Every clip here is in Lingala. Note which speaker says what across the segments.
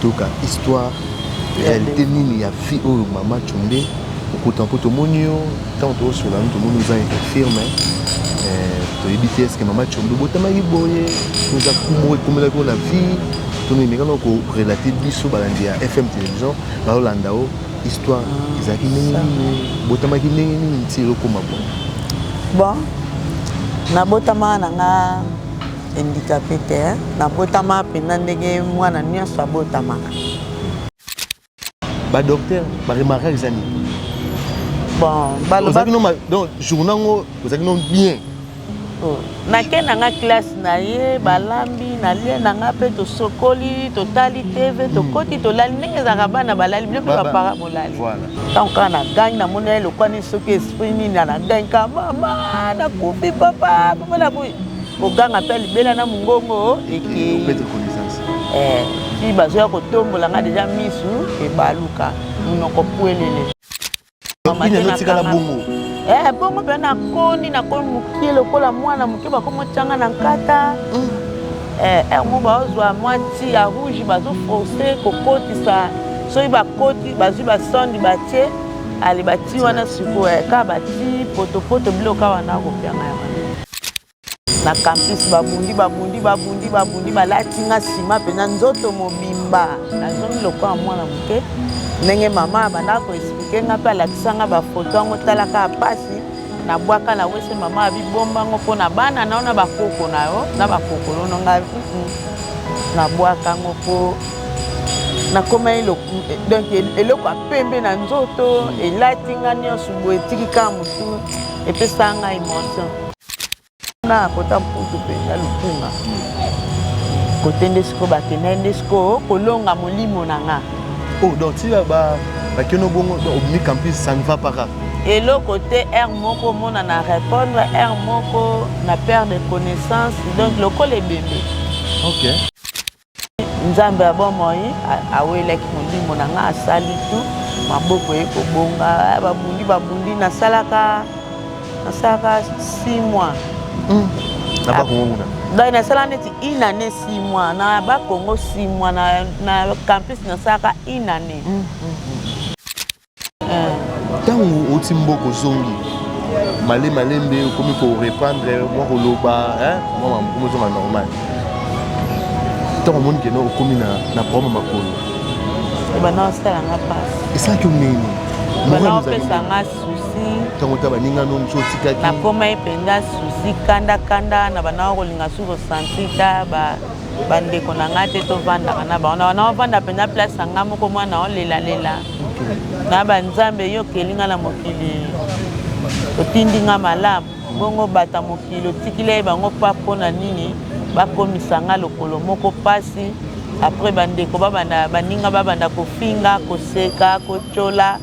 Speaker 1: toyoka histoire réalité nini ya fille oyo mama combe okota mpo tomoni yo ntango tokosola no tomoni oza infirme eh, toyebi te eske mama combe obotamaki boye oza kumo ekomelaki yo na vie tomemekana korelate biso balandi ya fm télévision balolanda o histoire ah, ezalaki ndenge nini botamaki ndenge nini nti elokoma boye bon
Speaker 2: nabotamaka na nga Handicapee te hein. Nabotama penza ndenge mwana nionso abotamaka.
Speaker 1: Ba docteur ba remarquaka eza nini? Bon,
Speaker 2: baloba ozalaki no ma-
Speaker 1: donc journée yango ozalaki no bien. Oh,
Speaker 2: nake na nga classe na ye balambi nalie na nga mpe tosokoli totali tv tokoti tolali ndenge ezalaka bana balali bino mpe Ba- ba- bapara bolali Voilà. ntango kaka na gangi namoni ye lokwa nini soki esprit nini na gangi kaka mama nakufi papa papa nakufi koganga mpe libela na mongongo ekei eh, ti bazoya kotombola nga deja misu ebaluka monoko pwelele ezotikala bongo eh, bongo mpe nakondi nakomi mokie lokola mwana moke bakomotyanga na nkata mm. eh, er mo baozwa mwa ti ya rouge bazoforce kokotisa soki bakoti bazwi basondi batie ale bati wana sikoyo kaka bati potopoto biloko awa nakopianga yango na campus babundi babundi babundi babundi balati nga nsima mpenza nzoto mobimba nazongi lokola mwana moke ndenge mama abandaka koexplike nga mpe alakisa nga bafoto yango talaka mpasi na bwaka na wese mama abibomba ngo mpo na bana na yo na bakoko na yo na bakokolo no nga na bwaka ngo mpo nakomaki donc eloko ya pembe na nzoto elati nga nyonso boye etiki kaka motu epesaka nga emotion na kota mputu mpe na lukunga kote nde sikoyo bakendai nde sikoyo kolonga molimo na nga oh, donc tia
Speaker 1: bakeno bongo obimi campus ça ne va pas kaka eloko te
Speaker 2: heure moko omona na répondre heure moko na perte de connaissance donc lokola ebembe okay. nzambe ya bomoi awelaki molimo na ngai asali tu maboko ye kobonga eh, babundi babundi nasalaka nasalaka si mois hmm.
Speaker 1: donc nasala neti
Speaker 2: une année si mois na bakongo si mois na campus nasalaka une année hmm, hmm,
Speaker 1: ntango ah. oti mboka ozongi male malembe okomi korepandre mwa koloba mwa mamokomi ozonga normal ntango omoni keno okomi na problème makolo
Speaker 2: esalaki yo nini opesanga susi ntango ta baninga
Speaker 1: no mosu otikaki nakomaki mpenza
Speaker 2: susi kandakanda na banaa kolinga su kosanti ta bandeko na ngai te tovandaka na bango na banaa ovanda mpenza place ya ngai moko mwana olelalela Naba nzambe yo okeli nga na mokili otindi nga malamu bongo bata mokili otikilai bango pa mpo na nini bakomisa nga lokolo moko mpasi apres bandeko babanda baninga babanda kofinga koseka kotyola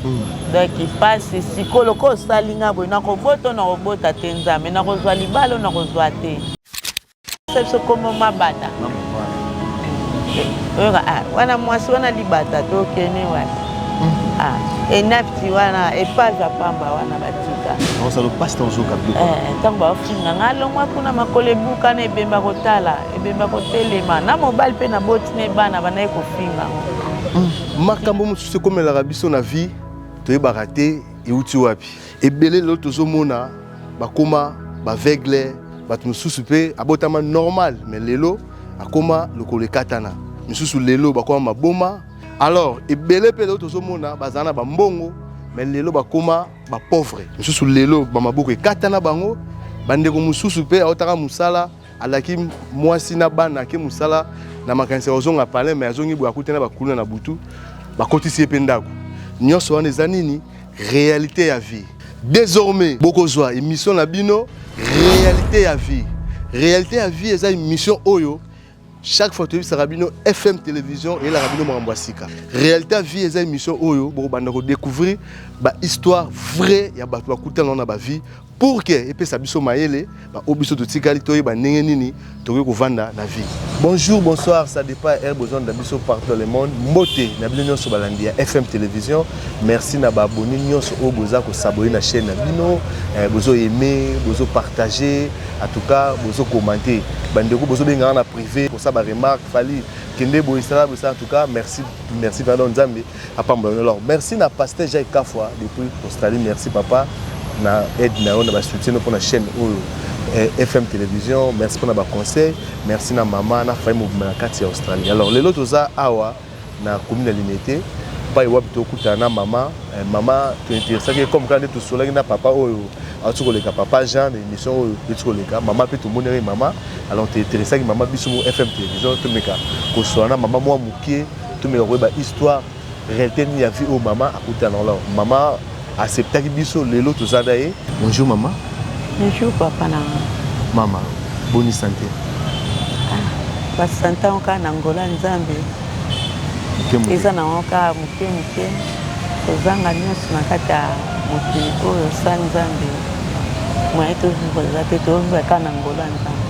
Speaker 2: hmm. donc mpasi sikoyo lokola osali nga boye nakoboto nakobota te nzambe nakozwa libalo nakozwa te biso komo mabata oyoka ah, wana mwasi wana libata tokeni wana hmm. ah, enafti wana epaza pamba wana batika ntango eh, baofinga nga alongwa kuna makolo ebukana ebemba kotala ebemba kotelema na mobali mpe na boti ne bana banai kofinga hmm.
Speaker 1: makambo mosusu ekomelaka biso na vie toyebaka te euti wapi Ebele lelo tozomona bakoma baveugle bato mosusu mpe abotama normal me lelo akoma lokolo ekatana misusu lelo bakoma maboma alors ebele mpe lelo tozomona bazala na bambongo me lelo bakoma bapauvre mosusu lelo bamaboko ekatana bango bandeko mosusu mpe aotaka mosala alaki mwasi na bana ake mosala na makanisi ya kozonga palin me azongi boye akutana bakuluna na butu bakotisi ye mpe ndako nyonso wana eza nini Realite ya vie. Désormais, bokozwa émission na bino Realite ya vie. Realite ya vie eza émission oyo chaque fois toyebisaka bino FM télévision eyelaka bino makambo ya sika. Realite ya vie eza émission oyo bokobanda ko découvrir ba histoire vraie ya bato bakutana na ba vie pour que epesa biso mayele baoyo biso totikali toyeba ndenge nini tokoki kovanda na vie bonjour bonsoir ça dépend ya besoin na biso partout le monde mbote na bino nyonso balandi ya fm télévision merci na baaboni nyonso oyo boza kosabone na chaîne na bino eh, bozo aime bozo partage en tout cas bozo commente bandeko bozobengaka na privé kosa baremarque fali kende boye sala boye sala en tout cas merci merci pardon nzambe Apambola yo lor. Merci na pasteur Jacques Kafwa depuis Australie. Merci papa na aide na yo na ba soutien pour la chaîne oyo eh, FM télévision. Merci pour na ba conseils. Merci na maman na famille mobimba na kati ya Australie. Alors lelo toza awa na commune ya Limete pai wapi tokutana na mama eh, mama tointeresaki comme kaka nde tosolaki na papa oyo auti koleka papa jean na émission oyo euti koleka mama mpe tomonaki mama alors tointeresaki mama biso mo fm télévision tomeka koswana na mama mwa moke Tomeka koyeba histoire realite nini ya vie oyo mama akuta na lor mama acceptaki biso lelo toza na ye bonjour mama bonjour papa
Speaker 2: na mama
Speaker 1: boni sante ah,
Speaker 2: basante yango kaka na ngola nzambe eza na yango kaka moke moke kozanga nyonso na kati ya mokili oyo sa nzambe moye tovivreza te tovivraka na ngola nzambe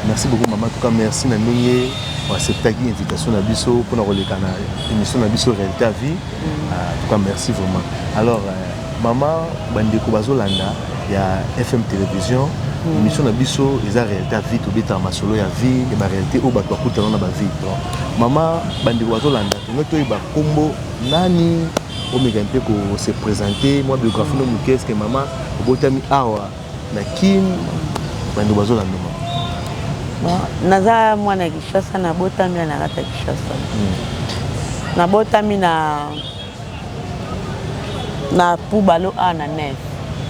Speaker 2: merci beaucoup
Speaker 1: mama tuka merci na ndenge acceptaki invitation na biso mpona koleka na émission na biso réalité à vie mm. ah, en tout cas merci vraiment alors euh, mama bandeko bazolanda ya fm télévision mm. émission na biso eza réalité à vie tobetaka masolo ya vie ya baréalité oyo bato bakutana na bavie donc mama bandeko bazolanda tonge toyeba nkombo nani omeka mpe ko se présenter mwa biographie no moke eske mama obotami awa Na kin bando bazo landa ma. Bon,
Speaker 2: naza mwana Kishasa na botami na kata Kishasa. Hmm. Na botami na na Pubalo a na Nef.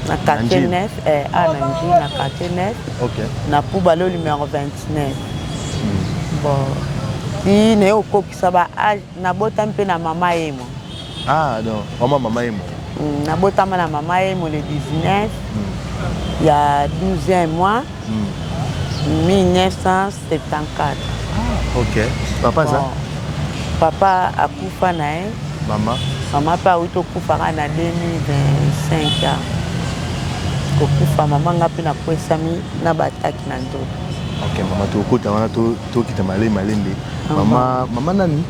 Speaker 2: Na quartier Nef eh, a na Nji na quartier Nef. Okay. Na
Speaker 1: Pubalo
Speaker 2: numéro 29. Hmm. Bon. Ti na yo kokisa ba âge Na botami pe na mama emo. Ah donc
Speaker 1: vraiment mama emo. Hum, na botama na
Speaker 2: mama emo le 19 hum. ya 12e mois hum. 1974. Ah, ok.
Speaker 1: Papa bon. ça papa
Speaker 2: akufa na ye mama mama mpe awuti okufaka na 2025 a kokufa mama nga mpe nakwesami na bataki na nzoto ok mama
Speaker 1: tokokota wana to tokita male malembe mama mama nani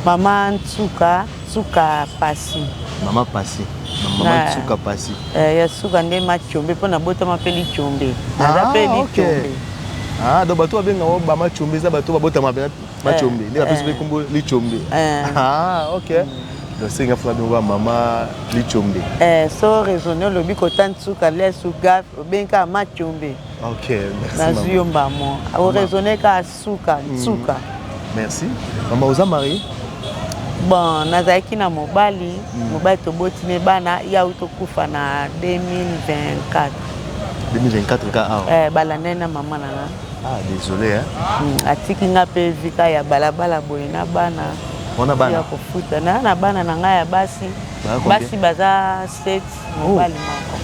Speaker 1: mama
Speaker 2: nsuka nsuka pasi mama pasi
Speaker 1: mama nsuka pasi eh, ya suka nde
Speaker 2: machombe mpo nabotama mpe lichombe naza mpe ah, lichombe ah, donc
Speaker 1: bato babenga o bama chombe eza bato babotama mpe machombe eh, nde bapesi mpe eh. nkombo lichombe ah, ok nasenga fula ndenge ya mama lichombe so raisonne
Speaker 2: olobi kota nsuka lesuka obengi kaka machombe Okay, merci
Speaker 1: nazwi yo mbamo
Speaker 2: oraisonne ka suka mm. suka mm.
Speaker 1: merci mama oza marie bon
Speaker 2: nazalaki na mobali mm. mobali toboti ne bana ye auti tokufa na 2024 2024
Speaker 1: ka awa eh, balandani na mama na nga
Speaker 2: ah, désolé
Speaker 1: hein? mm, atiki nga mpe
Speaker 2: vika ya balabala boye na bana wana bana ya
Speaker 1: kofuta na na
Speaker 2: bana na ngai ya basi basi baza state oh. mobali moko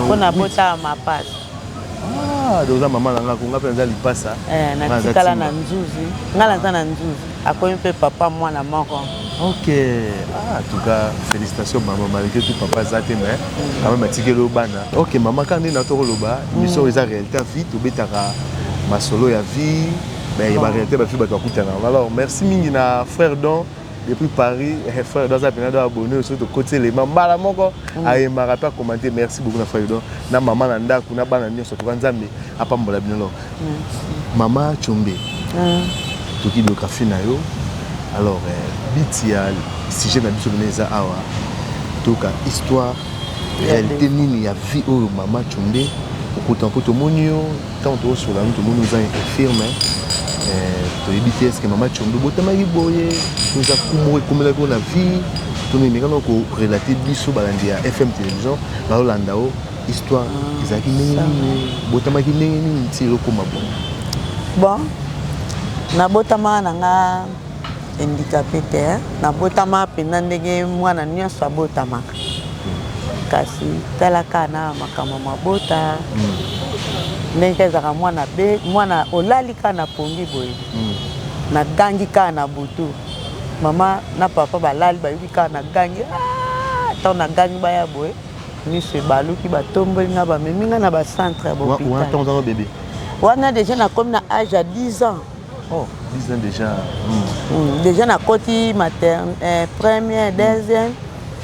Speaker 2: mpo na botala mapasi Ah,
Speaker 1: donc oza mama na nga ko nga mpe naza lipasa eh, natikala na
Speaker 2: nzuzi nga naza na nzuzi akomi mpe papa mwana moko ok
Speaker 1: ah, en tout cas félicitation mama malgré tout papa aza te mais mm. quand même atikeli yo bana ok mama kaka nde na tokoloba émission mm. eza réalité ya vie tobetaka masolo ya vie mais ba réalité bafi bato bakutana alors merci mingi na frère don depuis paris eh, frère do aza mpena do abonne oyo soki tokoti elema mbala moko mm. ayembaka mpe akomante merci beaucoup na frère do na mama na ndako na bana nyonso toka nzambe apambola bino lor mama combe ah. toki biographie na yo alors eh, biti ya sujet na biso bino eza awa toyoka histoire réalité nini ya vie oyo mama combe okuta mpo tomoni yo Tango tozo solola no tomoni oza infirme eh, toyebi te eske mama Tshombe botamaki boye toza kumo ekomelaki yo na vie toni meka na ko relater biso balandi ya FM télévision balolanda o histoire ah, ezalaki ndenge nini botamaki ndenge nini ti elokoma boye bon
Speaker 2: nabotamaka na nga Handicapee te hein. Nabotama penza ndenge mwana nionso abotamaka. Kasi tala kaka na makambo ya mabota ndenge kaka ezalaka mwana abe mwana olali kaka na pongi boye nagangi kaka na butu mama na papa balali bayoki kaka nagangi aah tango nagangi baya boye miso ebaluki batomboli nga bamemi nga na ba centre ya ba hopital. Wana tango ozalaka bebe?
Speaker 1: Wana dejà
Speaker 2: nakomi na age ya 10 ans. Oh, 10 ans
Speaker 1: déjà. Mm. Mm. Déjà
Speaker 2: na koti materne, eh, première, mm. deuxième,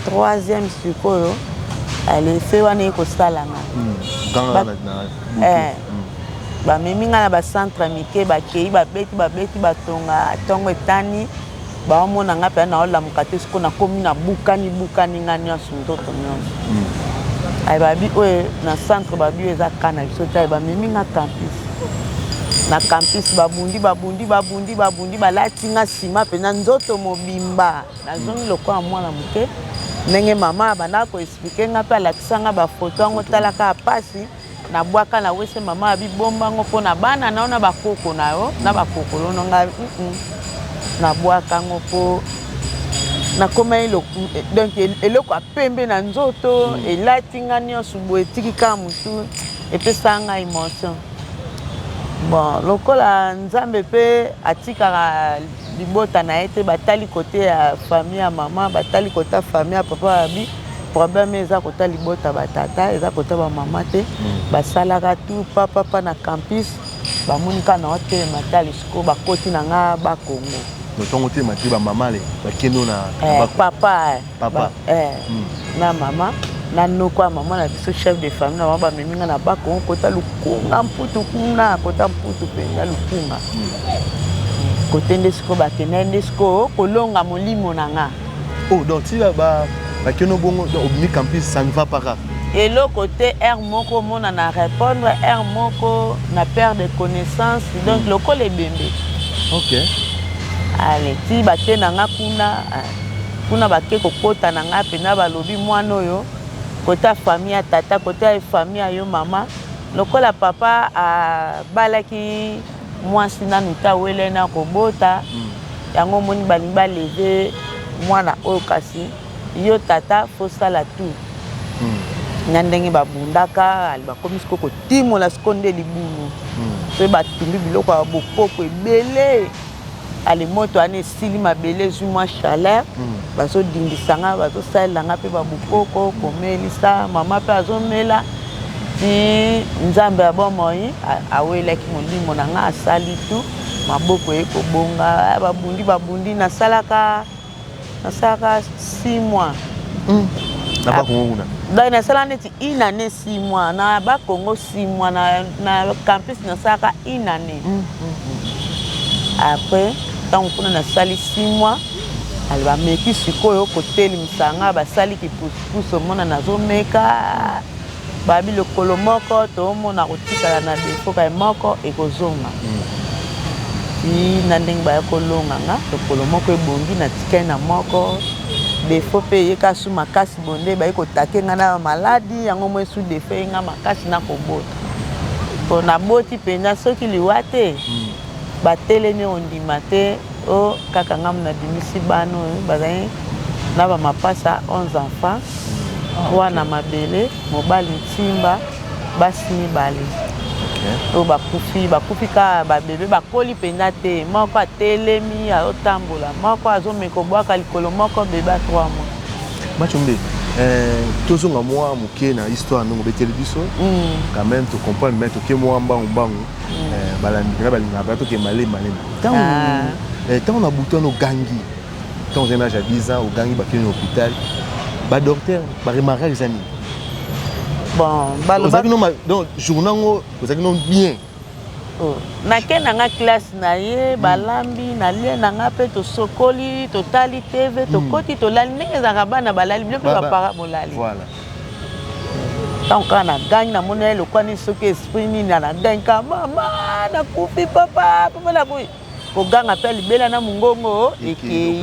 Speaker 2: troisième sikoyo. Allez, fait wana eko sala nga. Mm. Dans ba, la, na, eh, mm. bamemi nga na bacentre mike bakei babeti babeti batonga ntongo etani Ba omona nga pena nao lamuka te siko na komi na bukani bukani nga nionso ndoto nionso. Hmm. Aye ba bi oye na centre ba bi eza ka na biso te ba memi nga campus. Na campus ba bundi ba bundi ba bundi ba bundi ba lati nga sima pena nzoto mobimba. Na zongi lokola mwana moke. ndenge mama abandaka koexplike nga mpe alakisa nga bafoto yango talaka pasi Na bwaka na wese maman abi bomba ngo po na bana na yo na ba koko na yo na ba kokolo no nga mm -mm. Na bwaka ngo po na koma elo donc eloko apembe na nzoto mm. elati nga nionso bo etiki ka mutu epesa nga emotion bon lokola nzambe pe atikaka libota na ye te batali kote ya famille ya mama batali kota famille ya papa babi problème eza kota libota batata eza kota bamama te mm. basalaka tu papapa na campus bamoni kaka na otelema tali sikoyo bakoti na nga bakongo notongo te mati
Speaker 1: bamama le bakendo na eh, papa eh.
Speaker 2: papa eh, mm. na mama na noko ya mama na biso chef de famille na mama bamemi nga na bakongo kota lukunga mputu kuna kota mputu mpenza lukunga mm. kote nde sikoyo bakendai nde sikoyo kolonga molimo na nga oh, donc ti
Speaker 1: bakeno bongo obimi campus ça ne va pas rare eloko te
Speaker 2: r moko omona na répondre r moko na perte de connaissance donc mm. lokola ebembe ok ale ti bate na nga kuna Kuna bake kokota na ngai mpenza, balobi mwana oyo kote ya famille ya tata, kote ya famille ya yo mama, lokola papa abalaki mwasi nanu te awelai na kobota, yango omoni balingi ba leve mwana oyo kasi yo tata faut sala tout na ndenge babundaka bakomi siko kotimola siko nde libulu mpe batumbi biloko ya bokoko ebele. ale moto wana esili mabele ezwi mwa chaleur bazodindisa nga bazosalela nga mpe babukoko komelisa mama mpe azomela ti nzambe ya bomoi awelaki molimo na nga asali tu maboko eye kobonga babundi babundi nasalaka nasalaka 6 mois mm.
Speaker 1: na ba Congo kuna donc nasala neti
Speaker 2: une année 6 mois na ba Congo 6 mois na, na campus nasalaka une année mm. Mm. après ntango kuna nasali 6 mois aloba meki sikoyo kotelemisa nga basali kipusupusu omona nazomeka Babi lokolo moko tomona kotikala na defo kaye moko ekozonga ti na ndenge baya kolonga nga lokolo moko ebongi na tikali na moko defo pe eye ka su makasi bonde baye kotake nga na maladi yango mwe su defo eye nga makasi na kobota po naboti mpenza soki liwa te Ba telemi ondima te oh kaka nga muna bimisi bana oyo bazali na ba mapasa 11 enfants trois na mabele mobali nsimba basi mibale oyo bakufi bakufi kaka ba bebe bakoli mpenza te moko atelemi azotambola moko azomeka kobwaka likolo moko bebe a 3 mois Machombe,
Speaker 1: euh, tozonga mwa moke na histoire ndenge obeteli biso mm. quand même tocomprendre mais toke mwa mbangu mbangu eh, balandi mpenza balingaka mpenza tokende malemi malemi ntango ah. eh, ntango na butu wana ogangi ntango ozali na age ya 10 ans ogangi bakeli na hôpital badocteur baremarkaka eza nini ozalaki no donc journa yango ozalaki no bien oh.
Speaker 2: nake na nga classe na ye balambi nalie na nga mpe tosokoli totali tv hmm. tokoti tolali ndenge ezalaka bana balali bino mpe bapara bolali ntango kaka nagangi namoni ye lokwa nini soki esprit nini anagangi kaka mama nakufi papa papa nakufi koganga mpe libela na mongongo ekei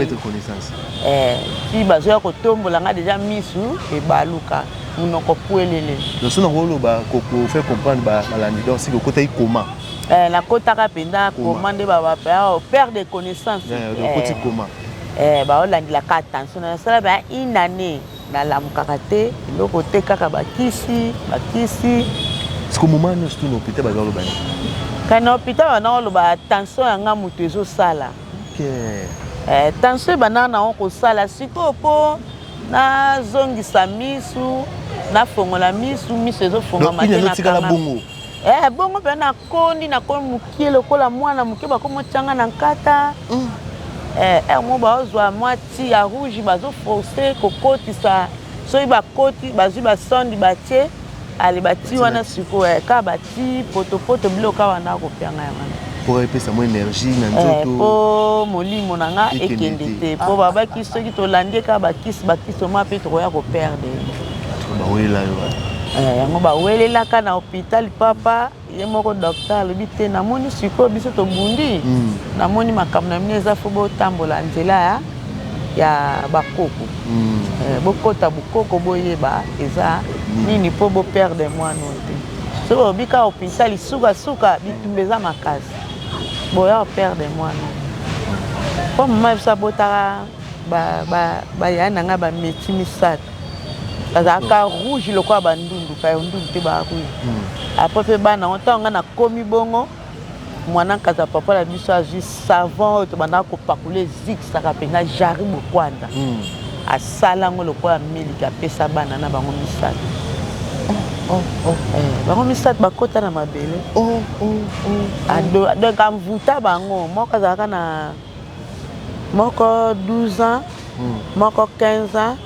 Speaker 2: eh, ti bazoya kotombola nga deja misu ebaluka monoko puelele loso nango oloba
Speaker 1: kofe comprendre balandi donc siki okotaki koma eh, nakotaka
Speaker 2: mpenza koma nde oh, père de connaissance eh,
Speaker 1: baolandela
Speaker 2: ka attention nasala ba une année Nalamukaka te eloko te kaka ba kisi ba kisi.
Speaker 1: Siko moment nionso tu na hopital baza koloba nini? Kani na hopital
Speaker 2: banda koloba tension ya nga mutu ezo sala. Okay. Eh, tension ebanda na ngo kosala sikoyo po nazongisa misu nafongola misu misu ezofongama te na kanga bongo
Speaker 1: eh bongo mpe
Speaker 2: nakondi nakomi mokie lokola mwana moke bakomi otyanga na nkata mm. eh, eh, mo baozwa mwa Ti ya rouge bazo force kokotisa soki bakoti bazwi ba sonde batie ale bati wana sikoyo eh, ka bati potopoto biloko ka wana akopianga yango wana mpo epesa mwa
Speaker 1: energie na eh, nzoto mpo molimo
Speaker 2: na nga ekende te mpo babaki soki tolandi eka bakisi bakisi oma mpe tokoya koperde bawela
Speaker 1: yo eh,
Speaker 2: yango bawelelaka na hôpital papa Ye moko docteur alobi te namoni sikoyo biso tobundi mm. namoni makambo na bino eza fo botambola nzela ya, ya bakoko mm. eh, bokota bokoko boyeba eza mm. nini mpo boperde mwana oyo te soki olobi kaka opinisa lisukasuka bitumba eza makasi boya operde mwana mpo mama biso abotaka bayai ba, ba na ngai bameti misato bazalaka rouge lokola bandundu kayo ndundu te ba rouge hmm. apres mpe bana yango ntango ngai nakomi bongo mwana nkaza papa na biso azwi savon oyo tobandaka kopakula ezikisaka mpenza jari bokwanda hmm. asala yango lokola miliki apesa bana na bango misato oh, oh, oh. Eh, bango misato bakota na mabele donc amvuta bango moko azalaka na moko 12 ans moko 15 ans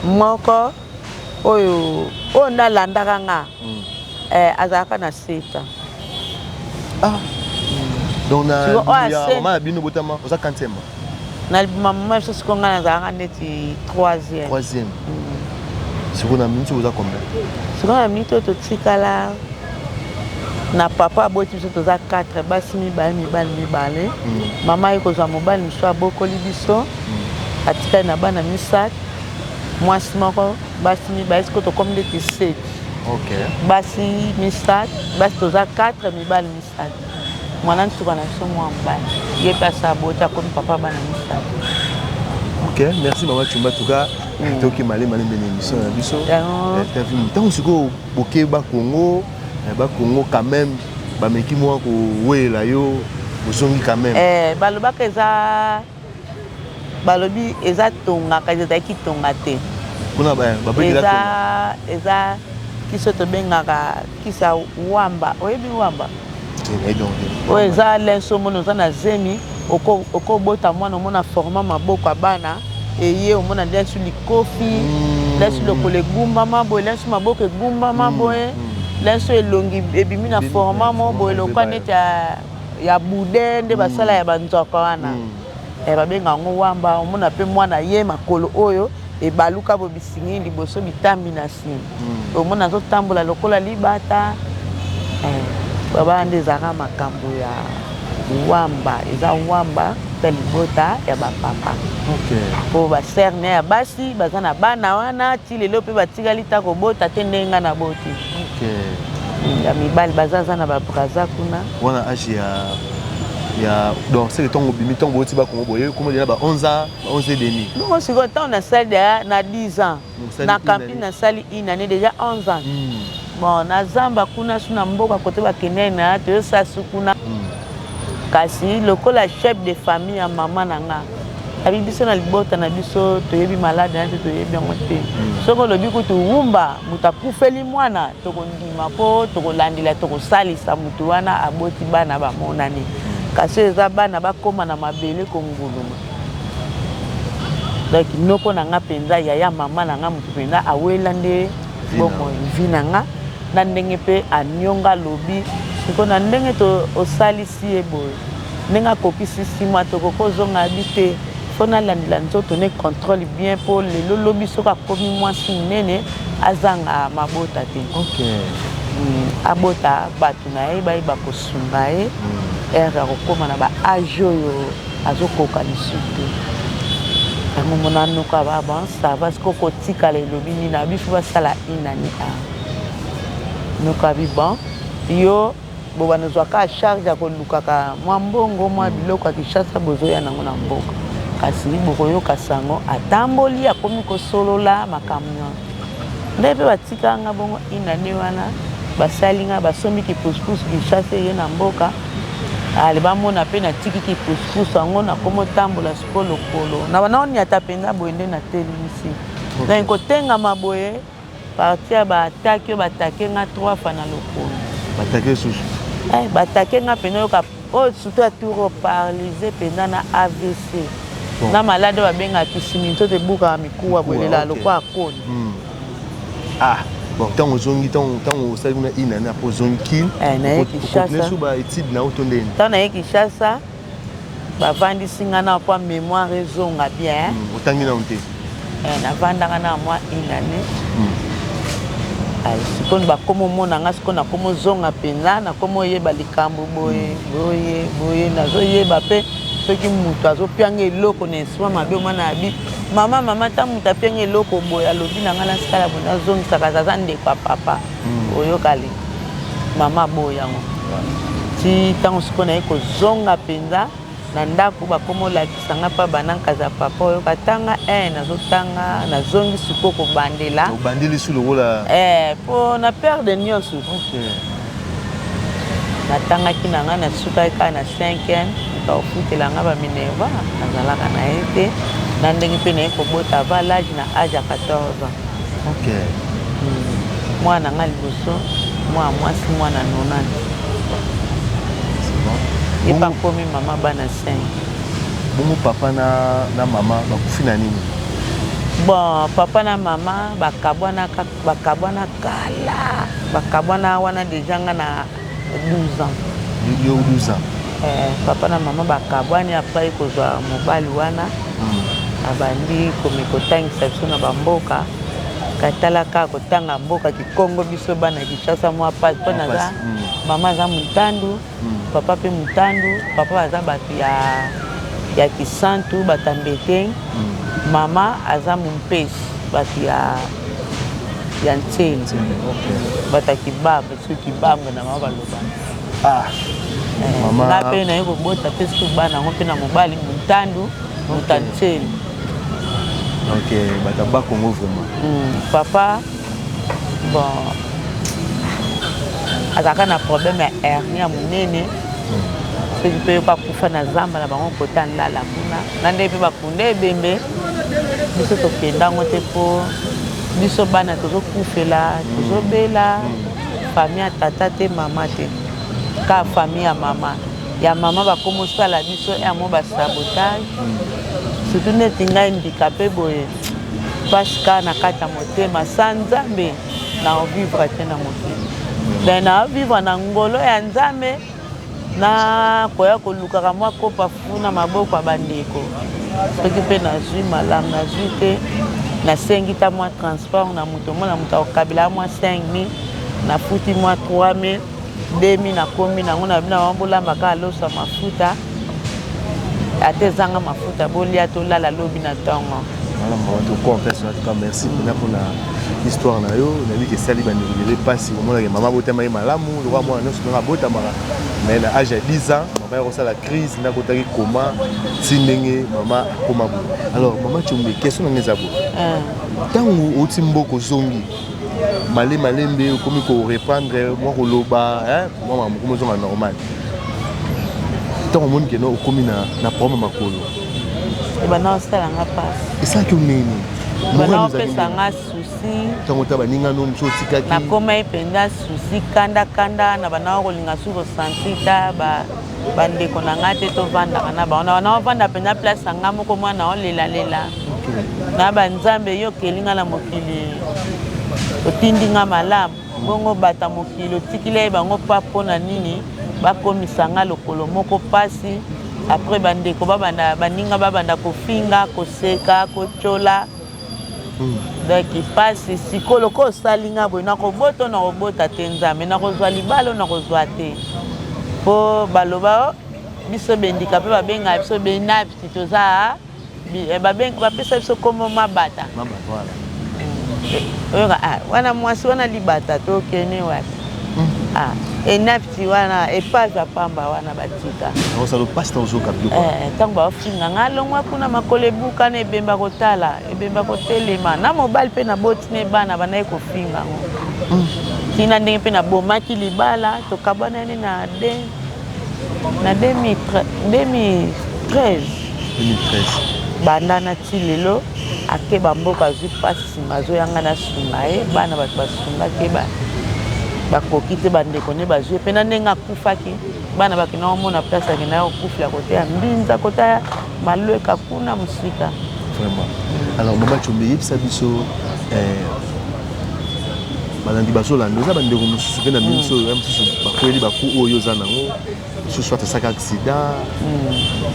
Speaker 2: moko oyo oyo nde alandaka nga mm. eh, azalaka na 7 ans ah.
Speaker 1: donc na mama na bino botama oza 40 na
Speaker 2: mama biso siko ngai nazalaka neti 3 troisième mm.
Speaker 1: sikoyo na minute oza combien sikoyo na minute oyo
Speaker 2: totikala na papa aboti biso toza 4 basi mibale mibali mibale mm. mama aye kozwa mobali mosusu abokoli biso mm. atikali na bana misato mwasi moko basi mibale sikoyo tokomi ndeti seti basi misato basi toza 4 mibali misato Muana nsuka na biso mua mobali ye mpe asi aboti akomi papa ya bana misato. Ok,
Speaker 1: merci mama Chumba tuka mm. toki male male mbele emission na biso. Ntango eh, sikoyo boke ba Congo eh, ba Congo quand même bameki mwa kowela yo ozongi quand même. Eh, balobaka eza
Speaker 2: balobi eza tonga kasi ezalaki tonga te kuna
Speaker 1: eza
Speaker 2: eza kisi tobengaka kisi ya wamba oyebi wamba oyo eza lenso omoni oza na zemi okobota mwana omona forma maboko ya bana eye omona lenso likofi mm. lenso lokolo egumbama boye lenso maboko egumbama mm. boye mm. lenso elongi ebimi na forma mo boye lokwa neti ya ya bude nde basala ya banzwaka wana eh, babenga yango wamba omona mpe mwana ye makolo oyo ebaluka bo bisingi liboso bitambi na nsima hmm. omona azotambola lokola libata eh, babaa nde ezalaka makambo ya wamba eza wamba ta libota ya bapapa mpo baserne ya basi baza na bana wana ti lelo mpe batikali ta kobota te ndenge ngai naboti Okay. Ya mibali baza za na ba Brazza kuna. Wana age ya
Speaker 1: ya donc c'est le temps obimi temps boti ba kongo boye comme déjà ba 11 ans, ba 11 et demi. Non, c'est temps na
Speaker 2: sali déjà na 10 ans. Na camping na sali une année déjà 11 ans. Hmm. Bon, na zamba kuna suna mboka kote ba kenena, to sasu kuna. Hmm. Kasi lokola chef de famille ya mama na nga abi biso na libota na biso toyebi malade na te toyebi yango te mm. soki olobi kutu wumba moto akufeli mwana tokondima mpo tokolandela tokosalisa moto wana aboti bana bamonani mm. kasi oyo eza bana bakóma na mabele konguluma donc noko na nga mpenza yaya mama na nga moto mpenza awela nde bomoi vi na nga na ndenge mpe anionga alobi siko na ndenge to osalisi ye boye ndenge akokisi sima tokoki ozonga bi te mpo nalandela nzoto ne controle bien mpo lelo lobi soki akomi mwasi monene azanga mabota te okay. mm, abota bato na ye bayeba kosunga ye mm. ere akokóma na baage oyo Azokoka lisusu te. Yango mona anoka ba ba ça va siko kotikala elobi nini na bifu basala inani a. Noka bi bon yo bobanda ozwaka charge ya kolukaka mwa mbongo mwa biloko ya kinshasa bozoya nango na mboka kasi bokoyoka sango atamboli akomi kosolola makambo na ngai mpe batikanga bongo inane wana basali ngai basombi kipusupusu kinshasa eye na mboka Allez ba mona pe na tiki ki pouspous yango na komo tambola siko lokolo na bana onyata penza boye nde na telimisi na ko tengama boye parti ya ba attaque yo ba take nga trois fois na lokolo ba take susu
Speaker 1: eh ba take
Speaker 2: nga pena yo ka oh surtout ya tour paralysé pena na AVC na malade ba benga kisimi nzoto ebuka mikuwa bolela lokwa akoni hmm. ah
Speaker 1: bon ntango ozongi ntango osali kuna une année apres ozongi kin okontinue
Speaker 2: so baétude na yo to
Speaker 1: ndeni ntango naye kinshasa
Speaker 2: bavandisi ngai na mpo mémoire ezonga bien hmm, otangi nano te
Speaker 1: eh, navandaka
Speaker 2: na mwa une année hmm. sikoyo bakoma omona ngai sikoyo nakoma ozonga mpenza nakoma oyeba likambo boye hmm. boye boye nazoyeba mpe soki moto azopianga eloko na esima mabe omwana abi mama mama ntango moto apiangi eloko boye alobi na ngai nasikala boye nazongisaka aza ndeko ya papa hmm. oyokali mama boye yango ti ntango sikoyo naye kozonga mpenza na ndako bakoma olakisa ngai mpa banankaza papa oyoka tanga e nazotanga nazongi sikoyo kobandela obandi lisu lokola
Speaker 1: e eh, mpo na
Speaker 2: perde nyonso Natangaki na ngai, nasukaki kaka na cinquième, moto akofutela ngai ba Minerva, nazalaka na ye te, na ndenge mpe naye kobota avant l'âge, na age ya 14 ans. Ok. Hmm. Mwana ngai liboso, mwana mwasi, mwana nonani. Ye mpe akomi mama bana 5. Bongo
Speaker 1: papa na, na mama bakufi na nini? Bon,
Speaker 2: papa na mama bakabwana kaka Bakabwana kala. Bakabwana wana deja nga na 12 ans. Yo 12 ans.
Speaker 1: Eh, papa na mama
Speaker 2: bakabwani après kozwa mobali wana hmm. abandi komikotangisa biso na bamboka katalaka kotanga mboka kikongo biso bana kinshasa mwa pasi mpo naza hmm. mama aza motandu Papa pe mutandu papa baza batu ya ya kisantu batambeteng mama aza mumpes batu ya ya ntsele batu ya kibamba soki kibamba na mama balobaka nga pe naye kobota pe soki bana yango pe na mobali muntandu mutantsele ok
Speaker 1: batu ya bakongo vraiment papa
Speaker 2: bon azalaka na problème ya hernie ya monene soki mpe yo bakufa na zamba na bango kota ndala kuna na nde mpe bakunda ebembe biso tokenda yango te mpo biso bana tozokufela tozobela famille ya tata te mama te ka famille ya mama ya mama bakomosala biso yamo basabotage surtout neti ngai mbika mpe boye pasi kaka na kati ya motema sa nzambe na ovivre te na mokili me na ovivre na ngolo ya nzambe na koya kolukaka mwa kopa fu na maboko ya bandeko soki mpe nazwi malamu nazwi te nasengi ta mwa transport na moto omona moto akokabela mwa 5000 nafuti mwa 3000 Demi na komi na ngo na bina wana bolamba kaka loso ya mafuta ata ezanga mafuta bolia tolala lobi na ntongo wana mawa tokwa mpasi
Speaker 1: na tuka merci mpena mpona histoire na yo nayebi kesali bandeko ebele mpasi komonake mama abotama ye malamu lokola mwana nyonso ndenge abotamaka mais na age ya 10 ans mama yakosala crise nde akotaki koma ti ndenge mama akoma boye alors mama combe question na ngai eza boye ntango outi mboka ozongi Male malembe okomi ko reprendre mwa koloba hein mwa makambo okomi ozonga normal ntango omoni keno okomi na, na problème makolo ebanda
Speaker 2: osala nga mpasi esalaki oneni
Speaker 1: bana opesa
Speaker 2: nga susi ntango ta baninga
Speaker 1: no mosu otikaki nakomaki mpenza
Speaker 2: susi kanda kanda na bana okolinga su kosanti ta ba bandeko na ngai te tovandaka na bango na ovanda mpenza place ya ngai moko mwana olelalela na banzambe yo okeli ngai na mokili otindi ngai malamu bongo bata mokili otikila ye bango mpa mpo na nini bakomisa ngai lokolo moko mpasi apres bandeko babanda baninga babanda kofinga koseka kotyola daki pasi siko lokola osali nga boye nakobota na kobota te nzambe nakozwa libalo nakozwa te mpo baloba oh, biso bendika mpe babengaka biso benapti toza eh, bapesa biso nkombo mabata oyoka ah, wana mwasi wana libata tokende wapi hmm. ah, enapi ti wana epaza pamba wana batika ozalo pasta ozoka biloko eh, ntango bafinga nga alongwa kuna makolo ebuka na ebemba kotala ebemba kotelema na mobali mpe naboti ne bana bandaki kofinga yango mm. tina ndenge mpe nabomaki libala tokabwanani na de na 2013 banda na ti lelo Akeba mboka azui pasi sima azo yanga na sunga ye bana batu basunga ke ba bakoki te bandeko nde bazui ye pe na ndenge akufaki bana bakenda komona place akenda kokufela kote ya mbinza kota ya malweka kuna mosika vraiment
Speaker 1: alors mama combe yebisa biso eh, balandi bazolanda oza bandeko mosusu mpe na biso ya mosusu bakweli baku oyo oza nango mosusu soit asaka accident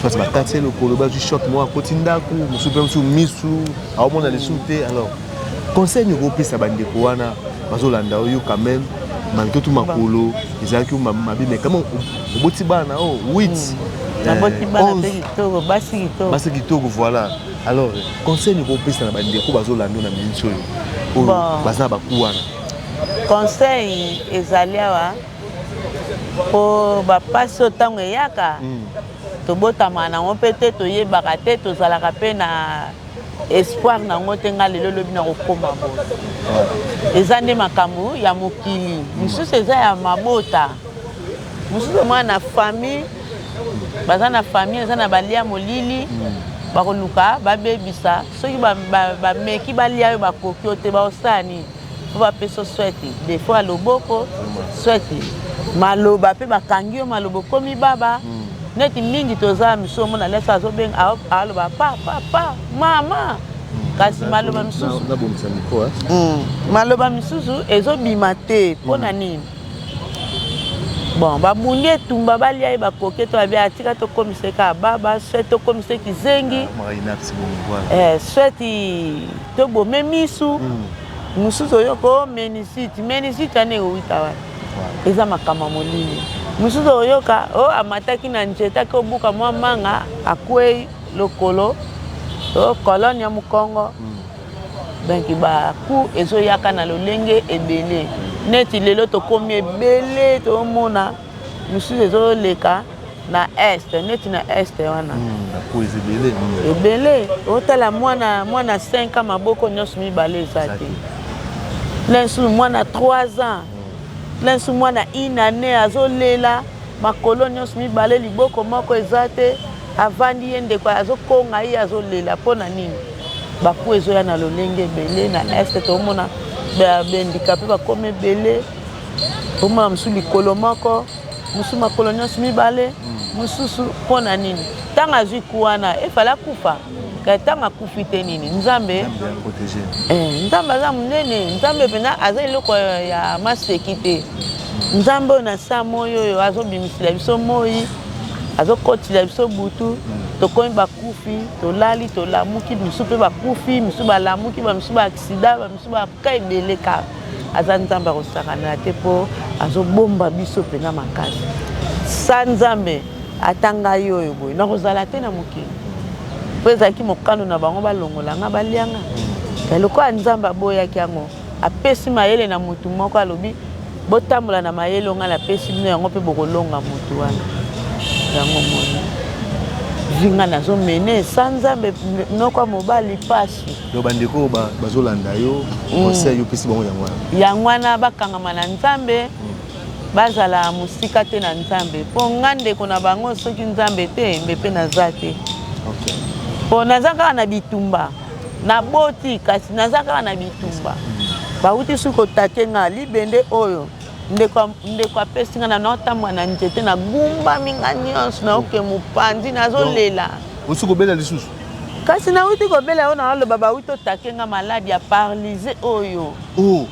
Speaker 1: soit bakati ye lokolo bazwi shot moko akoti ndako mosusu mpe mosusu misu aomona lisusu te alors conseil nini okopesa bandeko wana bazolanda yo quand même malgré tout makolo ezalaki mabe mais kama oboti bana o 8
Speaker 2: basi kitoko voilà
Speaker 1: alors conseil nini okopesa na bandeko bazolanda yo na miniti oyo oyo baza na baku wana conseil
Speaker 2: ezali awa po ba pasi oyo tango eyaka tobotama na ngo pe te toyebaka te tozalaka pe na espoir na ngo te nga lelo lobi na kokoma bo eza nde makambo ya mokili mosusu eza ya mabota mosusu omona na famille baza na famille eza na balia molili bakoluka babebisa soki bameki balia yo bakoki oyo te baosani po ba pesa yo swete defaut ya loboko swete maloba pe bakangi yo maloba okomi baba mm. neti mingi toza misu omona lesa azobenga aloba pa pa pa mama mm. kasi maloba misusu eh? mm. maloba misusu ezobima te mpo na nini bon babundi etumba balia ye bakoke to babia atika tokomiseka baba swete tokomiseki zengi ah, eh, swete To bome misu. Mususu oyoko menisite. Menisite wana ewuta wapi? Eza makambo ya molili. Mususu oyoka o oh, amataki na njete ake obuka mwa manga akwei lokolo o oh, kolone ya mokongo. Mm. Donc ba coût ezoyaka na lolenge ebele. Neti lelo tokomi ebele tomona Misusu ezo leka na est neti na est wana hmm, ebele otala mwana mwana 5 ans maboko nyonso mibale eza te na lisusu mwana 3 ans hmm. na lisusu mwana une année azolela makolo nyonso mibale liboko moko eza te avandi ye ndeko azokonga ye azolela mpo na nini baku ezoya na lolenge ebele na est toomona bandika mpe bakoma ebele Omona mosusu likolo moko, mosusu makolo nyonso mibale, mosusu mpo na nini? Ntango azwi ku wana, efale akufa. Kasi ntango akufi te nini? Nzambe, eh, Nzambe aza monene. Nzambe mpenza aza eloko ya maseki te. Nzambe oyo na saa moi oyo azobimisela biso moi, azokotila biso butu, tokomi bakufi, tolali, tolamuki, misusu mpe bakufi, misusu balamuki, bamisusu baaksida, bamisusu baka ebele kaka. Aza nzambe akosakana te po azobomba biso mpenza makasi sa nzambe ata ngai oyo boye nakozala te na mokili mpo ezalaki mokano na bango balongola nga balia nga ya lokola nzambe aboyaki yango apesi mayele na motu moko alobi botambola na mayele ongai napesi bino yango mpe bokolonga motu wana yango moni vinga nazomene sa nzambe noko ya mobali pasi donc bandeko oyo
Speaker 1: bazolanda yo mm. conseil opesi bango yango wana yango wana
Speaker 2: bakangama na nzambe mm. bazala mosika te na nzambe mpo nga ndeko na bango soki nzambe te mbe mpe naza te mpo naza kaka na bitumba naboti kasi naza kaka na bitumba mm. bauti soki kotate nga libende oyo ndeko apesi nga na naotambwa na nzete nagumbami nga nyonso naoke mopanzi nazolela osi kobela
Speaker 1: lisusu Kasi na wuti
Speaker 2: ko bela yo na loba ba wuti otake nga malade ya paralise oyo. Oh.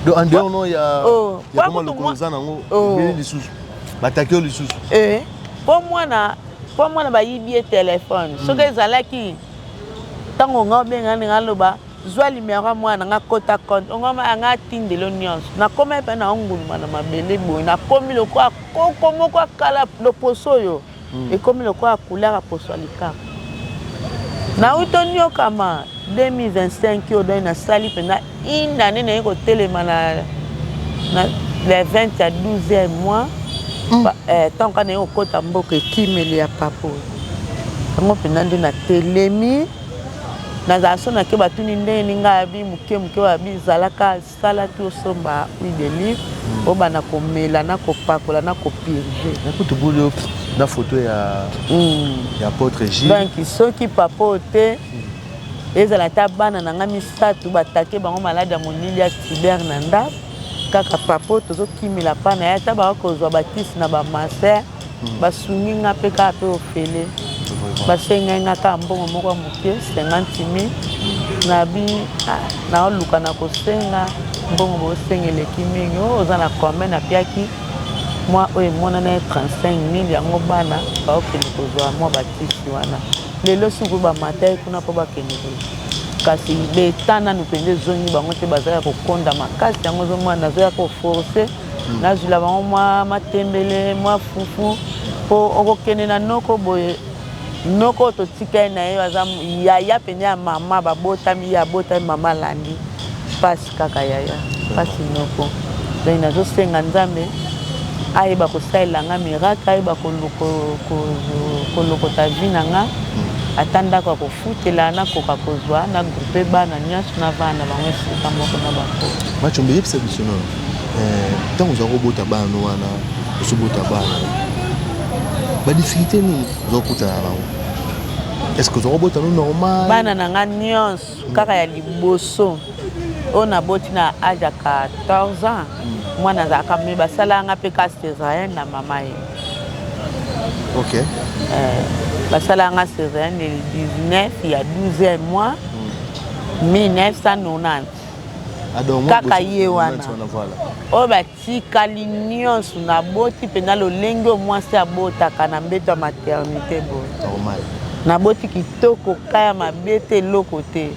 Speaker 1: Donc en dehors non ya oh. ya koma lokolo za nango oh. beli lisusu. Ba take yo lisusu. Eh. Po
Speaker 2: mwana po mwana ba yibi ye téléphone. Hmm. Soki ezalaki tango nga obenga nga loba zwa limero ya mwana nga kota compte ongama anga atindelo nyonso nakoma epai na onguluma na mabele boye nakomi lokola koko moko akala loposo oyo mm. ekomi lokola couleur ya poso ya likama nauti onyokama 2025 oyo dani nasali mpenza une année naye kotelema na, na le 20 ya 12e mois mm. eh, ntango kaka naye kokɔta mboka ekimeli ya papa oyo yango mpenza nde natelemi nazala so nake batuni ndenge ninga abi moke moke oyo abi zalaka Sala tout osomba huile de olive obanda komela na kopakola na ko purger. Mais kutu boule yo
Speaker 1: na photo ya ya
Speaker 2: apôtre
Speaker 1: Gilles. Donc
Speaker 2: soki
Speaker 1: papa
Speaker 2: oyo te ezala ata bana na nga misato ba attaquer bango malade ya molili ya cyber na ndako kaka papa oyo tozokimela pa na ye ata bakozwa batisi na ba master basungi nga mpe kaka mpe ofele basengai nga kaka mbongo moko ya moke 50 mil nabi ah, naoluka na kosenga mbongo bosenga eleki mingi oh, oza na combien napiaki mwa oyo emonana ye 35 mil yango bana baokende kozwa mwa batisi wana lelo sikoyo bamata ye kuna mpo bakende kozwa kasi leta nanu mpenza ezongi bango te bazalaka kokonda makasi yango ezomwana nazoya koforce nazwila bango mwa matembele mwa fufu mpo okokende na noko boye noko oyo totikali na ye aza yaya mpenza ya mama babotami ye abotami mama alandi mpasi kaka yaya mpasi noko donc nazosenga nzambe ayeba kosalela nga miracle ayeba kolokota vi na nga ata ndako ya Futela na koka kozwa na groupe bana nionso na bana na bango esika moko na bango. Machombe yebisa biso
Speaker 1: na eh, ntango ozwa kobota bana wana osobota bana badifficulté nini ozwa kokutana na bango est-ce que ozwa kobota no normal bana na nga
Speaker 2: nionso kaka ya liboso oyo naboti na age ya 14 ans hmm. mwana azalaka me basalaka nga mpe kasi ezalai na mama ye
Speaker 1: Ok. Euh,
Speaker 2: basala nga césarienne le 19 il y a 12 mois 1990. Hmm. kaka ye wana oyo batikali nyonso naboti mpenza lolenge oyo mwasi abotaka na mbeto ya maternité boye naboti kitoko ka ya mabe te eloko te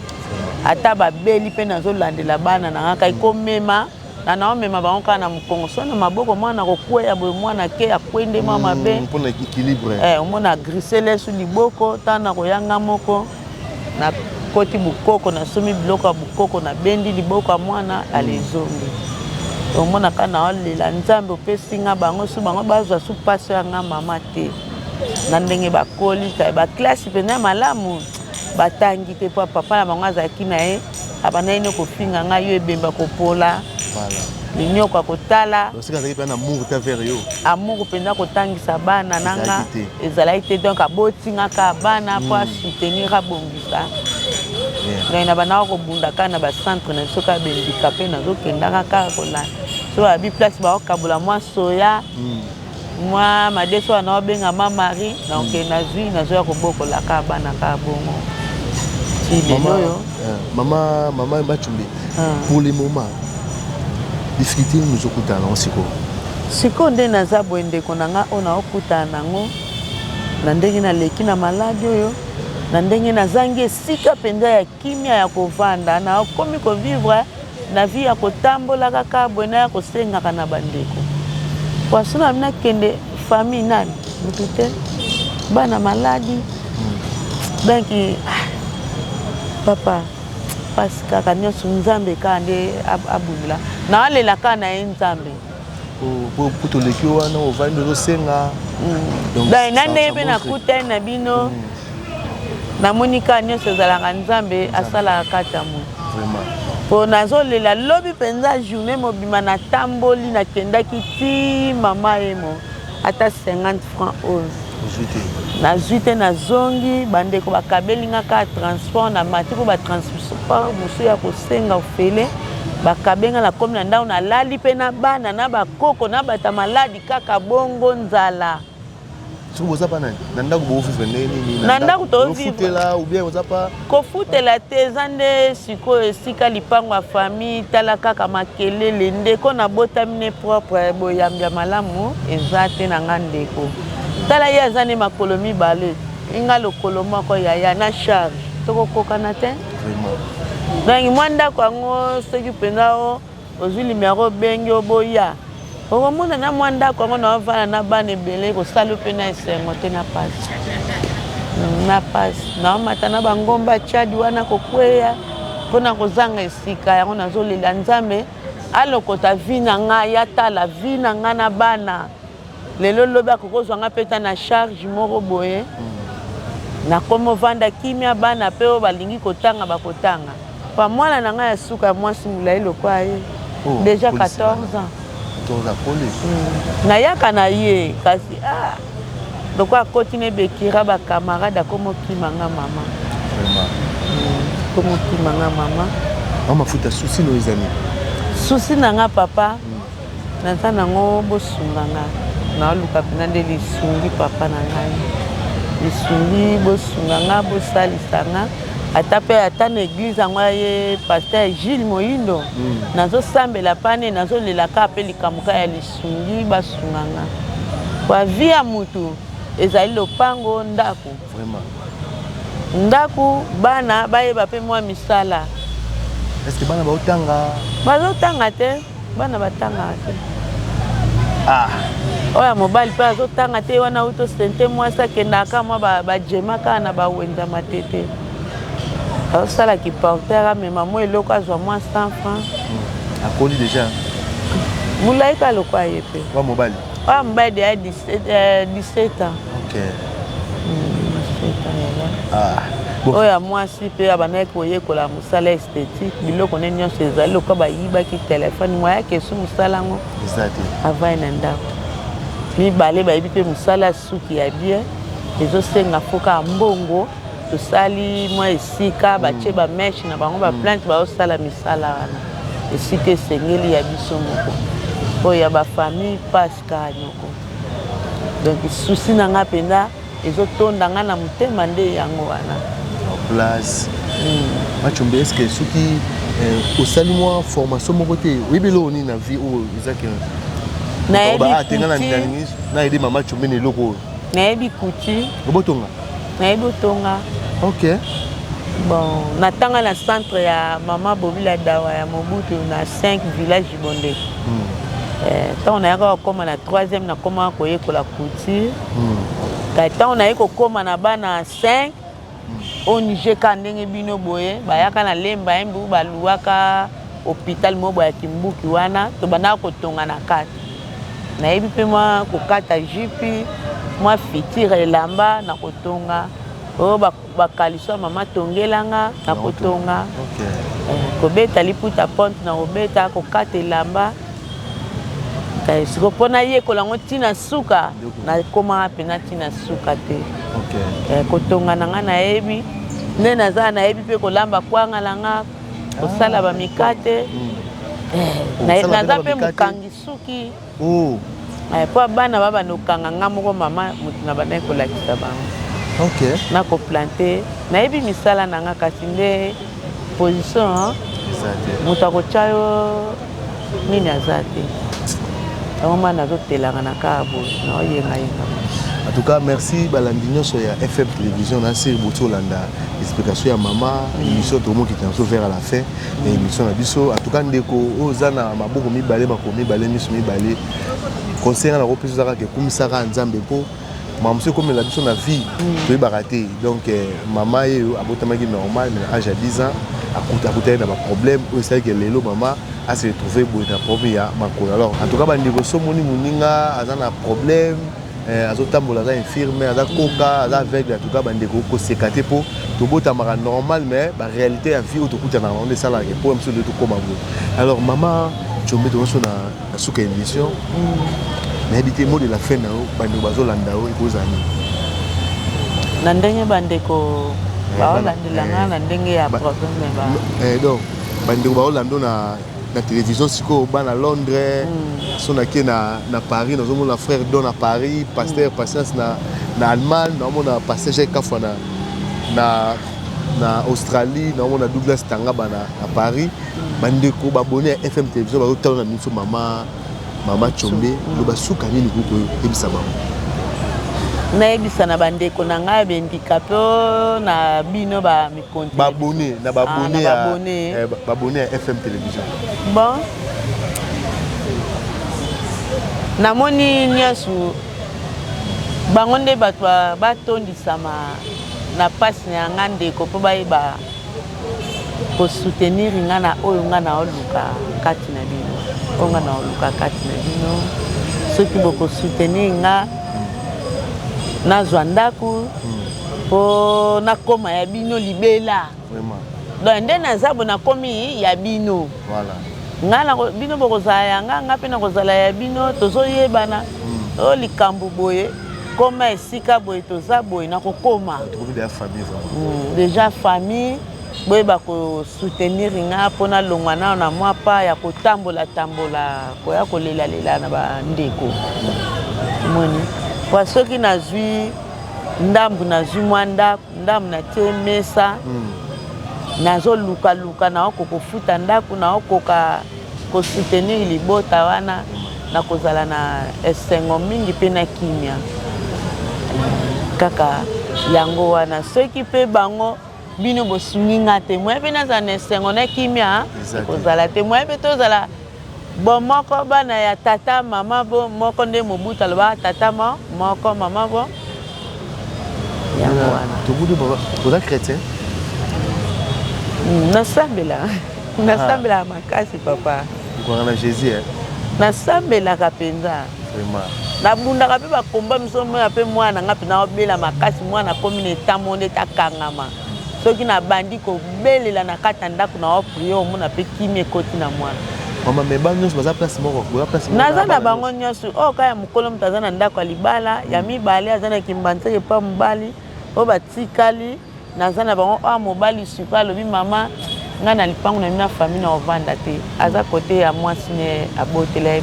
Speaker 2: ata babeli mpe nazolandela bana na ngaka ekomema Na nao mema bango kaka na mukongo soit na maboko mwana ako kweya boye mwana ake akwe nde mwa mabe hmm, pona equilibre
Speaker 1: eh omona grise
Speaker 2: lesu liboko tant na koya nga moko na koti bukoko na somi biloko ya bukoko na bendi liboko ya mwana hmm. alezongi omona ka na olela nzambe opesi nga bango su bango bazwa su paso ya nga mama te na ndenge bakoli kai ba classe pena malamu batangi te mpo papa na bango azalaki na ye abandaki nde kofinga ngai yo ebemba kopola minyoko akotala amour mpenza kotangisa bana na nga ezalaki te donc aboti nga kaka bana mpo hmm. asoutenir abongisa donc na bandaka kobunda kaka na bacentre na biso kaka bendika mpe nazokendaka kaka kolanda so babi place bakokabola mwa soya hmm. Mwa madesu wana obenga ma Marie donc mm. nazwi nazoya kobokola ka bana ka bongo ti lelo oyo eh,
Speaker 1: mama mama Mbachumbi ah. pour le moment difficulté nini ozokutana nango sikoyo sikoyo nde
Speaker 2: naza boye ndeko na ngai oyo naokutana nango na ndenge naleki na maladi oyo na ndenge nazangi esika mpenza ya kimia ya kovanda nakomi kovivre Na vie ya kotambola kaka boye naya kosengaka na ba ndeko poisson na bino akende famille nani mutu te bana maladi donc ah, papa pasi kaka nyonso nzambe kaka nde abundela naalela kaka na ye nzambe
Speaker 1: na ndenge
Speaker 2: mpe nakutani na bino mm. namoni kaka nyonso ezalaka nzambe asalaka kati ya moto mpo nazolela lobi mpenza journée mobima natamboli nakendaki ti mama emo ata 50 franc oyo nazwi te nazongi bandeko bakabeli nga kaka transport na mati mpo batransport mosusu ya kosenga ofele bakabe nga nakomi na ndako nalali mpe na bana na bakoko na bata maladi kaka bongo nzala soki boza bana na ndako bovivre ndenge nini na ndako toovivre Kofutela te eza nde sikoyo esika lipango ya famille tala kaka makelele ndeko na botami ne propre boyambi ya malamu eza te na nga ndeko tala ye aza ne makolo mibale inga lokolo moko yaya na charge tokokokana te donc mwa ndako yango soki mpenza Ozui numero obengi yo boya okomona na mua ndaku yango na ovanda na bana ebele ekosali yo pe na esengo te na pasi na pasi na omata na ba ngomba Tchad wana kokueya pona kozanga esika yango nazolela nzambe alokota vie na nga ya tala vie na nga na bana Lelo lobi akoki ozwa nga mpe ta na charge moko boye nakomi ovanda kimia bana mpe oyo balingi kotanga bakotanga pa mwana na ngai ya suka ya mwasi molai lokwa ye oh, deja 14 ans hmm. nayaka na ye kasi ah, lokola akoti na ebekira bakamarade akomi okima nga mama akomi hmm, okima nga mama mafuta
Speaker 1: susi no ezali susi na
Speaker 2: nga papa mm. Naza nango bosunga nga naoluka pena nde lisungi papa na ngai lisungi bosunga nga bosalisa nga ata pe ata na eglise yango ya ye pasteur Gilles moyindo nazo sambela pa ne nazo lela ka pe likambo ka ya lisungi basunga nga pa vie ya mutu ezali lopango ndaku ndaku bana bayeba pe mua misala Est-ce
Speaker 1: que bana bazo tanga? Bazo tanga te.
Speaker 2: Bana batangaka te.
Speaker 1: Ah. Oyo ya
Speaker 2: mobali mpe azotanga te wana auto sente mwasi akendaka mwa bajema ba kaka na bawenza matete azosala kiporter amema mwa eloko azwa mwa 100 franc hmm. akoli
Speaker 1: deja molai
Speaker 2: ka lokwa ye mpe wa mobali oyo
Speaker 1: mobali
Speaker 2: deya 17 ans oyo
Speaker 1: ya mwasi mpe
Speaker 2: abandaki koyekola sala esthétique biloko ne nyonso ezali lokola bayibaki telefone moya kesu mosala yango avai na ndako mibale bayebi mpe mosala ya suki ya bien ezosenga fo kaka mbongo tosali mwa esika batye mm. bameshe na bango baplante mm. baosala misala wana esika esengeli ya biso moko oyo ya bafamille paska noko donc susi na ngai mpenza Ezo tonda nga na motema nde yango wana. En place.
Speaker 1: Mm. Machombe est-ce que soki eh, osali mwa formation moko te oyebi eloko nini na vie oyo eza ke nayebi mama chombe na eloko oyo nayebi kuti
Speaker 2: obotonga
Speaker 1: nayebi otonga
Speaker 2: ok
Speaker 1: bon
Speaker 2: natanga na centre ya mama bobila dawa ya mobutu na 5 village bonde ntango hmm. eh, nayaka kokoma na 3e nakomaka koyekola couture Kati ntango naye kokoma na bana 5 au Niger ka ndenge bino boye bayaka na lemba embu baluaka hôpital moko boye ya kimbuki wana tobandaka kotonga na kati nayebi mpe mwa kokata jipi mwa fitire elamba na kotonga oyo oh, bakaliso ya mama tongelanga na kotonga okay. eh, kobeta liputa ponte na kobeta kokata elamba eh, siko mpo nayekola yango ntina suka nakomaka mpena ntina suka te okay. eh, kotonga na ngai nayebi nde naza nayebi mpe kolamba kwanga na nga kosala ah, bamikate mm. eh, naza mpe mokangi suki Oh. Eh, po bana ba bana okanga nga moko mama moto na bandaki kolakisa bango okay. na koplante nayebi misala na nga kasi nde position moto akotya yo nini aza te yango ma nazotelaka na kaa boye naoyengayenga en tout cas
Speaker 1: merci balandi nyonso ya fm télévision na sir boti olanda explication ya mama émission tokomokita yanso vers à la fin na emission na biso en tout cas ndeko oyo oza na maboko mibale makolo mibale miso mibale conseil nga nakopesa oza kaka ekumisaka nzambe mpo makambo mosusu ekomela biso na vie mm. toyebaka te donc eh, mama ye oyo abotamaki normal mais na age ya 10 ans akutaki na baproblème oyo esalaki lelo mama ase retrouve boye na problème ya makolo alors en tout cas bandeko so omoni moninga aza na problème eh, azotambola aza infirme aza koka aza aveugle en tout cas bandeko koseka te mpo tobotamaka normal mais baréalité ya vie oyo tokutanaka yango nde esalaka ke mpo ya mosusu nde tokóma boye alors mama combe tomoso na suka ya émission mm. nayebi te mot de la fin na yo bandeko bazolanda yo ekozala nini
Speaker 2: na ndenge bandeko eh, baolandela ngai eh. na ndenge ya problème eh, donc
Speaker 1: bandeko baolanda na na television sikoyo bana londres mm. so nake na, na paris nazomona frère don na paris pasteur mm. patience na, na allemagne naomona pasteur jacques kafwa na, na, na australie naomona douglas tangaba na, na paris mm. bandeko babone ya fm television bazotala na biso mama mama combe mm. loba suka nini kokoyebisa bango
Speaker 2: nayebisa na bandeko na ngai ya bendikape na bino ba ba abonné na ba abonné
Speaker 1: ya eh, ba abonné ya FM télévision bon
Speaker 2: namoni nyonso bango nde bato batondisama na mpasi na yanga ndeko mpo bayeba kosoutenir nga na oyo nga naoluka kati na bino oyo nga naoluka kati na bino soki bokosoutenir nga nazwa ndako mpo hmm. nakoma ya bino libela donc nde naza bo nakomi ya bino ngai na bino bokozala ya ngai ngai mpe nakozala ya bino tozoyebana hmm. oyo likambo boye koma esika boye toza boye nakokoma deja famille boyeba ko soutenir nga mpo nalongwa nao na mwa pa ya kotambola tambola koya kolelalela na bandeko moni mpo soki nazwi ndambu nazwi mwa ndako ndambu natie mesa mm. nazolukaluka naoko kofuta ndako naokoka kosoutenir libota wana nakozala na esengo mingi mpe na kimia kaka yango wana soki mpe bango bino bosungi nga te moye mpe nazala na esengo na kimia ekozala te moye mpe tozala bomoko bana ya tata mama bo moko nde mobutu alobaka tata mo moko mama bo yango wana tobudi oza
Speaker 1: chrétien hmm, nasambela nasambelaka ah. makasi papa okokaka na jésus nasambelaka
Speaker 2: mpenza nabundaka mpe bakomba miso omona mpe mwana na ngai mpena obela makasi mwana akomi na etamo ndete akangama soki nabandi kobelela na kati ya ndako na oprie omona mpe kimi ekoti na mwana
Speaker 1: naza na bango
Speaker 2: nyonso oyo oh, kaka ya mokolo moto aza na ndako ya libala ya mibale aza na kimbanseke mpa mobali oyo batikali Naza na bango ah mobali super alobi mama nga na lipangu na mina famille na ovanda te aza kote ya mwasi ne abotela ye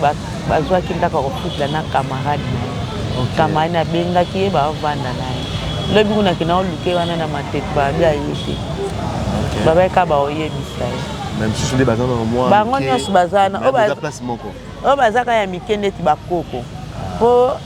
Speaker 2: bazwaki ndako ya kofutela na camarade na ye camarade na abengaki ye baovanda na ye lobi kuna kena oluke wana na matete babi aye te babayeka baoyebisa ye bango nyonso baza na oyo baza kaka ya mike ndeti bakoko mpo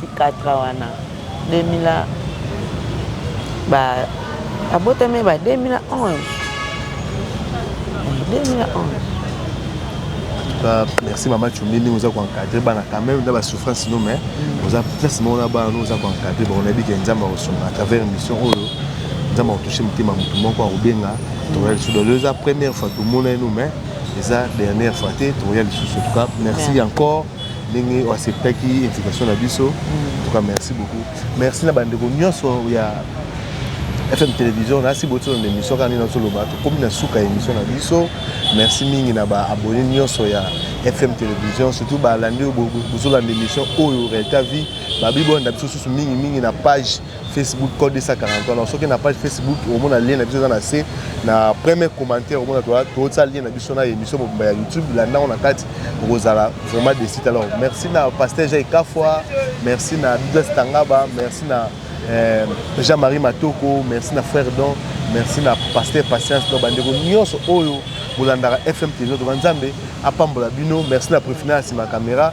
Speaker 2: Sikatra wana 2000 ba abotami
Speaker 1: ba 2011 merci mama cumbi ndenge oza koencadre bana quand même na basouffrance no mais mm. oza place moko na bana no oza koencadre bango nayebi ke nzambe akosunga à travers émission oyo nzambe akotouche motema motu moko akobenga tokoya lisusu dolo eza première fois tomona ye no mais eza dernière fois te tokoya lisusu en tout cas merci encore ndenge o acceptaki invitation na biso en tout cas merci beaucoup merci na bandeko nyonso ya fm télévision nasi botiso na émission kaka nini nazoloba tokomi na suka ya émission na biso merci mingi na baabonné nyonso ya fm télévision surtout balandi oyo bozolanda émission oyo réalité vie babi bolanda biso susu mingi mingi na page Facebook code 240 wana soki na page Facebook omona lien na biso eza na se na premier commentaire omona tootisa lien na biso na émission mobimba ya YouTube landa yango na kati okozala vraiment desite alors merci na pasteur Jai Kafwa merci na Douglas Tangaba merci na eh, Jean-Marie Matoko merci na frère Don merci na pasteur Patience na bandeko nyonso oyo bolandaka FM Télévision Toba Nzambe apambola bino merci na Prefina ya nsima ya kamera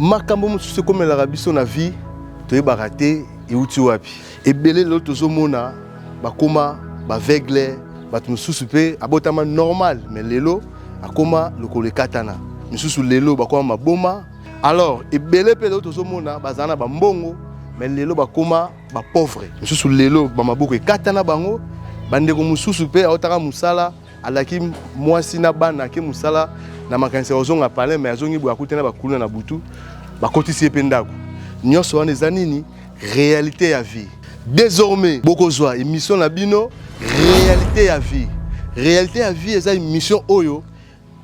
Speaker 1: makambo mosusu ekomelaka biso na vie toyebaka te euti wapi ebele lelo tozomona bakoma baveugle bato mosusu mpe abotama normal me lelo akoma lokolo ekatana misusu lelo bakoma maboma alors ebele mpe lelo tozomona bazala na bambongo me lelo bakoma ba pauvre mosusu lelo bamaboko ekata na bango bandeko mosusu mpe aotaka mosala alaki mwasi na bana ake mosala na makanisi ya kozonga palin mai azongi boye akuti na bakuluna na butu bakotisi ye mpe ndako nyonso wana eza nini réalité ya vie désormais bokozwa émission na bino réalité ya vie réalité ya vie eza émission oyo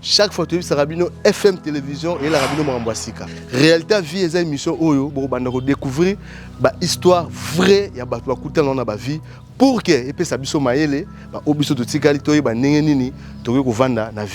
Speaker 1: chaque fois toyebisaka bino fm télévision eyelaka bino makambo ya sika réalité ya vie eza émission oyo bokobanda kodécouvrir bahistoire vrai ya bato bakutana na bavie pour ke epesa biso mayele baoyo biso totikali toyeba ndenge nini tokoki kovanda na vie